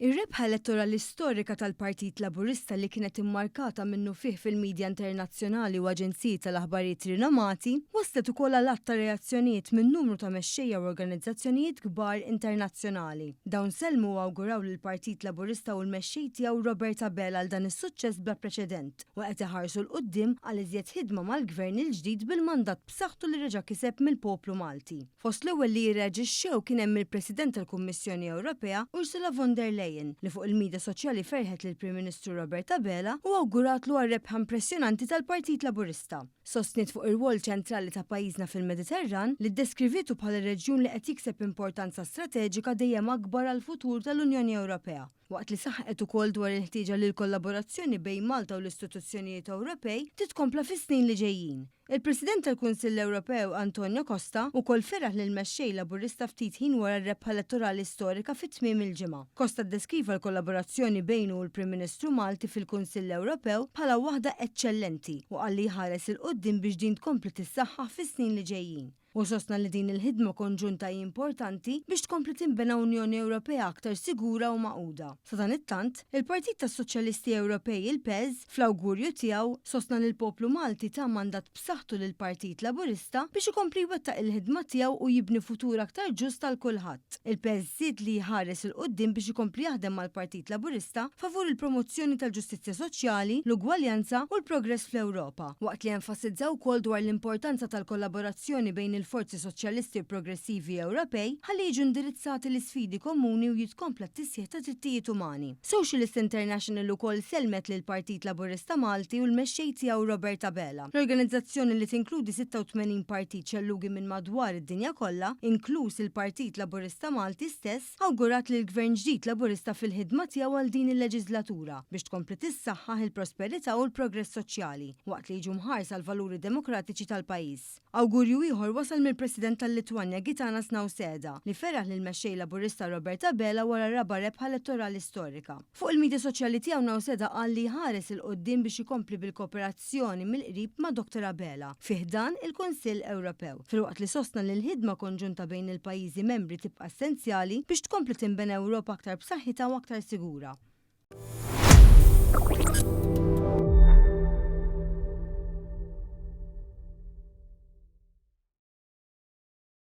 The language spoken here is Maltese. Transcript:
Ir-rebħa elettorali storika tal-Partit Laburista li kienet immarkata minnufih fil-midja internazzjonali u aġenziji tal-aħbarijiet rinomati, wasslet ukoll għal għadd ta' reazzjonijiet minn numru ta' mexxejja u organizzazzjonijiet kbar internazzjonali. Dawn sellmu u awguraw lill-Partit Laburista u l-mexxej tiegħu Robert Abela għal dan is-suċċess bla preċedent u qed iħarsu 'l quddiem għal iżjed ħidma mal-Gvern il-ġdid bil-mandat b'saħħtu li reġa' kiseb mill-poplu Malti. Fost l-ewwel li jirreaġixxew kien hemm il-President tal-Kummissjoni Ewropea, Ursula von der Leyen, li fuq il-midja soċjali ferħet lill-Prim Ministru Robert Abela u awguratlu għar-rebħa impressjonanti tal-Partit Laburista. Sostniet fuq ir-rwol ċentrali ta' pajjiżna fil-Mediterran, li ddeskrivietu bħala reġjun li qed jikseb importanza strateġika dejjem akbar għall-futur tal-Unjoni Ewropea. waqt li saħqet ukoll dwar il-ħtieġa li l-kollaborazzjoni bejn Malta u l-istituzzjonijiet Ewropej titkompla fis-snin li ġejjin. Il-President tal-Kunsill Ewropew Antonio Costa wkoll feraħ lill-Mexxej Laburista ftit ħin wara r-rebħa elettorali storika fi tmiem il-ġimgħa. Costa ddeskriva l-kollaborazzjoni bejnu u l-Prim Ministru Malti fil-Kunsill Ewropew bħala waħda eċċellenti u qal li jħares 'il quddiem biex din tkompli tissaħħaħ fis-snin li ġejjin. Hu sostna li din il-ħidma konġunta hi importanti biex tkompli tinbena Unjoni Ewropea aktar sigura u magħquda. Sadanittant, il-Partit tas-Soċjalisti Ewropej, il-PES, fl-awgurju tiegħu, sostna li l-poplu Malti ta mandat b'saħħtu lill-Partit Laburista biex ikompli jwettaq il-ħidma tiegħu u jibni futur aktar ġust għal kulħadd. il-PSZLI jħares 'il quddiem biex ikompli jaħdem mal-Partit Laburista favur il-promozzjoni tal-ġustizzja soċjali, l-ugwaljanza u l-progress fl-Ewropa, waqt li enfasizza wkoll dwar l-importanza tal-kollaborazzjoni bejn il-forzi soċjalisti u progressivi Ewropej ħalli jiġu indirizzati l-isfidi komuni u jitkompla t-tisħiħ tad-drittijiet umani. Socialist International ukoll sellmet lill-Partit Laburista Malti u l-mexxej tiegħu Robert Abela. L-organizzazzjoni li tinkludi 86 partit xellugi minn madwar id-dinja kollha, inkluż il-Partit Laburista Malti stess, awgurat lill-Gvern ġdid Laburista fil-ħidma tiegħu għal din il-leġislatura biex tkompli tissaħħaħ il-prosperità u l-progress soċjali waqt li jiġu mħarsa l-valuri demokratiċi tal-pajjiż. Awgurju ieħor wasal mill-President tal-Litwanja Gitanas Nauseda li feraħ lill-Mexxej Laburista Robert Abela wara r-raba' rebħa elettorali storika. Fuq il-midja soċjali tiegħu Nauseda qal li jħares 'il quddiem biex ikompli bil-kooperazzjoni mill-qrib ma' Doctor Abela fi ħdan il-Kunsill Ewropew, filwaqt li sostna li l-ħidma konġunta bejn il-pajjiżi membri tibqa' essenzjali biex tkompli tinbena Ewropa aktar b'saħħitha u aktar sigura.